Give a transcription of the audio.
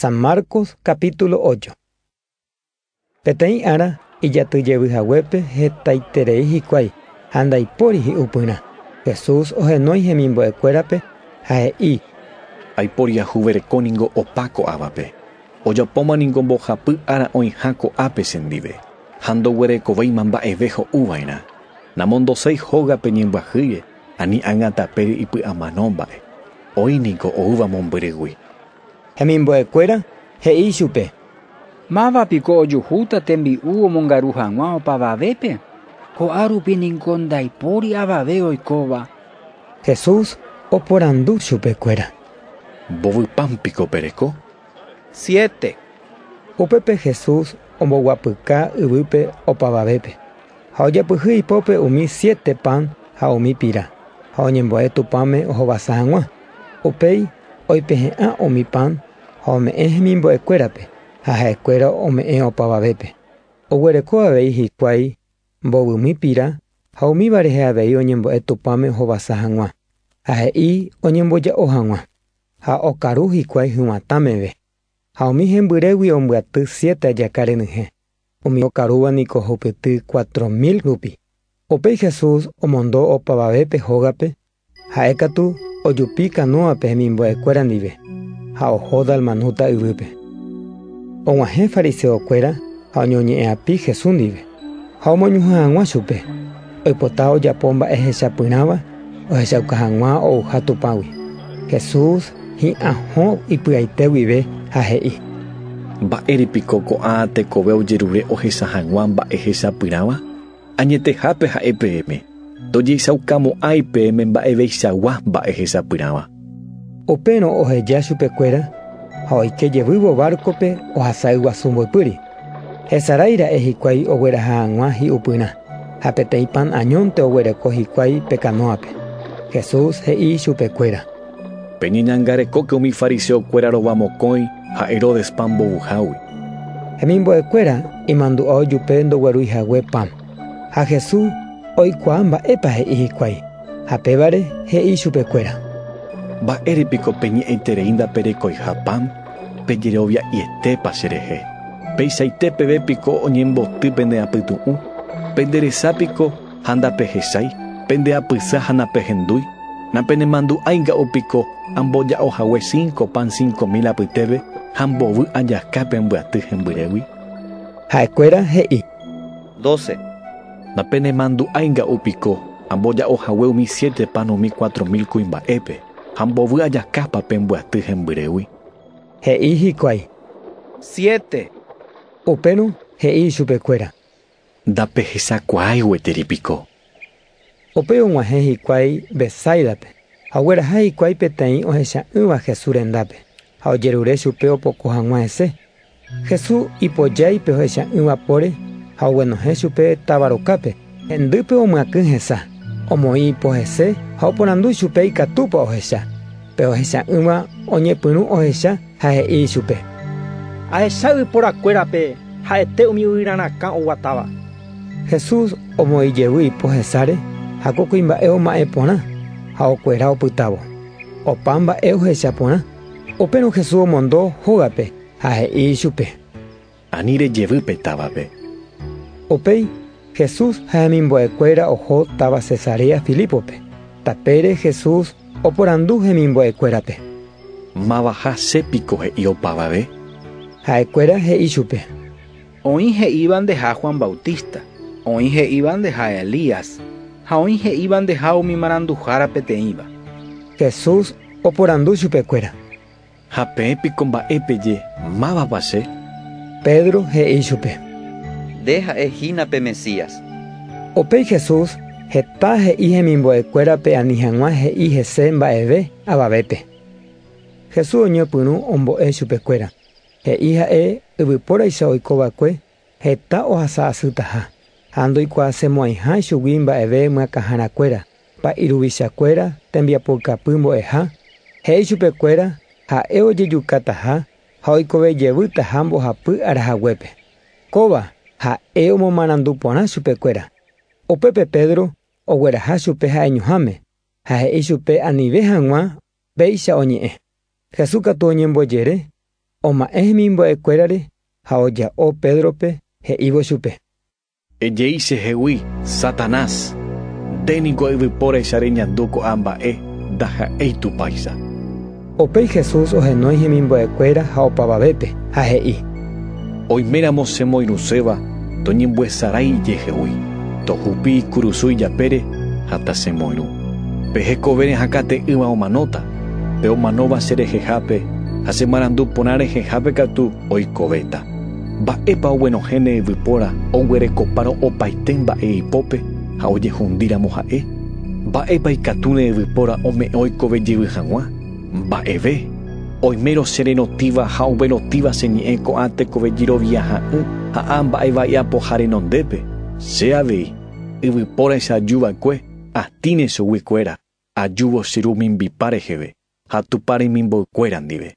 San Marcos capítulo ocho. Peteĩ ára ijaty jevy haguépe hetaiterei hikuái ha ndaipóri hi'upyrã, Jesús ohenói hemimbo'ekuérape ha he'i, Aipóri ajuvereko ningo opa ko'ávape, ojapóma ningo mbohapy ára oĩha ko'ápe chendive, ha ndoguerekovéima mba'eve ho'uva'erã, namondoséi hógape ñembyahýire, Ani ág̃a tapére ipy'amano mba'e, oĩ niko oúva mombyrygui. Hemimbo'ekuéra he'i ichupe. Máva piko ojuhúta tembi'u omongaru hag̃ua opavavépe? Ko'ã rupi niko ndaipóri avave oikóva. Jesús oporandu chupekuéra. Mbovy pan piko pereko? Siete. Upépe Jesús omboguapyka yvýpe opavavépe. Ha ojapyhy ipópe umi siete pan ha umi pira, ha oñembo'e Tupãme ohovasa hag̃ua. Upéi oipehe'ã umi pan ha ome'ẽ hemimbo'ekuérape, ha ha'ekuéra ome'ẽ opavavépe. Oguereko avei hikuái mbovymi pira ha umíva rehe avei oñembo'e Tupãme ohovasa hag̃ua, ha he'i oñemboja'o hag̃ua. Ha okaru hikuái hyguãtã meve. Ha umi hembyrégui ombyaty siete ajaka renyhẽ. Umi okarúva niko hokyty cuatro mil rupi. Upéi Jesús omondo opavave pe hógape, ha'e katu ojupi kanúape hemimbo'ekuéra ndive, ha oho Dalmanuta yvýpe. Og̃uahẽ fariseokuéra ha oñoñe'ẽ'api Jesús ndive, ha omoñuhẽ hag̃ua chupe. Oipota ojapo mba'e hechapyrãva ohechauka hag̃ua ouha Tupãgui. Jesús hi'ã hũ ipy'aite guive ha he'i. Mba'ére piko ko'ã tekove ojerure ohecha hag̃ua mba'e hechapyrãva? Añetehápe ha'e peẽme, ndojeichaukamo'ãi peẽme mba'eveichagua mba'e hechapyrãva. Upérõ oheja chupekuéra ha oike jevývo bárkope ohasa yguasu mboypýri. Hesarái ra'e hikuái ogueraha hag̃ua hi'upyrã, ha peteĩ pan añónte oguereko hikuái pe kanóape. Jesús he'i chupekuéra: “Peñeñangarekóke umi fariseokuéra rova mokõi ha Heródespa mbovyhágui”. Hemimbo'ekuéra imandu'a ojupe ndoguerúi hague pan. Ha Jesús oikuaa mba'épa he'i hikuái, ha pévare he'i chupekuéra: “Mba'ére piko peñe'ẽiterei ndaperekoiha pan, pejerovia'ietépa cherehe? Peichaite peve piko oñemboty pende apytu'ũ? Pende resa piko ha ndapehechái? Pende apysa ha napehendúi? Napenemandu'ái nga'u piko amboja'o hague cinco pan cinco mil apytépe ha mbovy ajaka pe ambyaty hembyrégui?” Ha'ekuéra he'i: Doce. Na penemandu'ái nga'u piko amboja'o hague umi siete pan umi cuatro mil kuimba'épe, ha mbovy ajakápa pe mbyaty hembyrégui? He'i hikuái. Siete. Upérõ he'i ichupekuéra. Ndapehechakuaái gueteri piko. Upéi og̃uahẽ hikuái Betsáidape, ha ogueraha hikuái peteĩ ohecha'ỹva Jesús rendápe, ha ojerure chupe opoko hag̃ua hese. Jesús ipojái pe ohecha'ỹva póre ha oguenohẽ chupe táva rokápe. Hendýpe omyakỹ hesa, omoĩ ipo hese ha oporandu chupe ikatúpa ohecha. Pe ohecha'ỹva oñepyrũ ohecha Ha he'i ichupe, Ahecha yvyporakuérape ha'ete umi yvyra rakã oguatáva. Jesús omoĩ jevy ipo hesáre ha ko kuimba'e oma'ẽ porã ha okuera opytávo. Opa mba'e ohecha porã. Upérõ Jesús omondo hógape ha he'i ichupe: Ani rejevy pe távape. Upéi Jesús ha hemimbo'ekuéra oho táva Cesarea Filípope. Tapére Jesús oporandu hemimbo'ekuérape. Mavaha che piko he'i opavave? Ha'ekuéra he'i chupe. Oĩ he'íva ndeha Juan Bautista, oĩ he'íva ndeha Elías, ha oĩ he'íva ndeha umi maranduhára peteĩva. Jesús oporandu chupekuéra. Ha peẽ piko mba'e peje, Mávapa che? Pedro he'i ichupe. Nde ha'e hína pe Mesías. Upéi Jesús heta he'i hemimbo'ekuérape ani hag̃ua he'i hese mba'eve avavépe. Jesús oñepyrũ ombo'e chupekuéra, he'i ha'e yvypóraicha oiko va'ekue Heta ohasa asytaha, ha ndoikuaasemo'ãiha ichugui mba'eve myakãharakuéra, pa'i ruvichakuéra, tembiapoykapy mbo'eha, he'i chupekuéra, ha'e ojejukataha ha oikove jevýtaha mbohapy arahaguépe. Kóva ha'e omomarandu porã chupekuéra. Upépe Pedro ogueraha chupe ha'eñuháme, ha he'i chupe anive hag̃ua péicha oñe'ẽ. Jesús katu oñembojere Oma'ẽ hemimbo'e kuérare ha oja'o Pédrope, he'ívo chupe. Ejei che hegui, Satanás! Nde niko yvypóraicha reñandu ko'ã mba'e, ndaha'éi Tupãicha. Upéi Jesús ohenói hemimbo'e kuéra ha opavavépe, ha he'i. Oiméramo che moirũséva, toñembyesarái ijehegui, tohupi ikurusu ijapére ha tachemoirũ. Pe hekovére hakãte'ỹva omanóta, Pe omanóva che rehehápe ha che marandu porã rehehápe katu oikovéta. Mba'épa oguenohẽne yvypóra oguerekopárõ opaite mba'e ipópe ha ojehundíramo ha'e? Mba'épa ikatúne yvypóra ome'ẽ oikove jevy hag̃ua? Mba'eve! Oimérõ che rerotíva ha oguerotíva che ñe'ẽ ko'ã tekove jerovia ha'ỹ ha a mba'e va'iapoha renondépe. Che avei, yvypóraicha ajuva'ekue, atĩne chugui kuéra. Ajúvo che ru mimbipa reheve ha Tupã remimboykuéra ndive.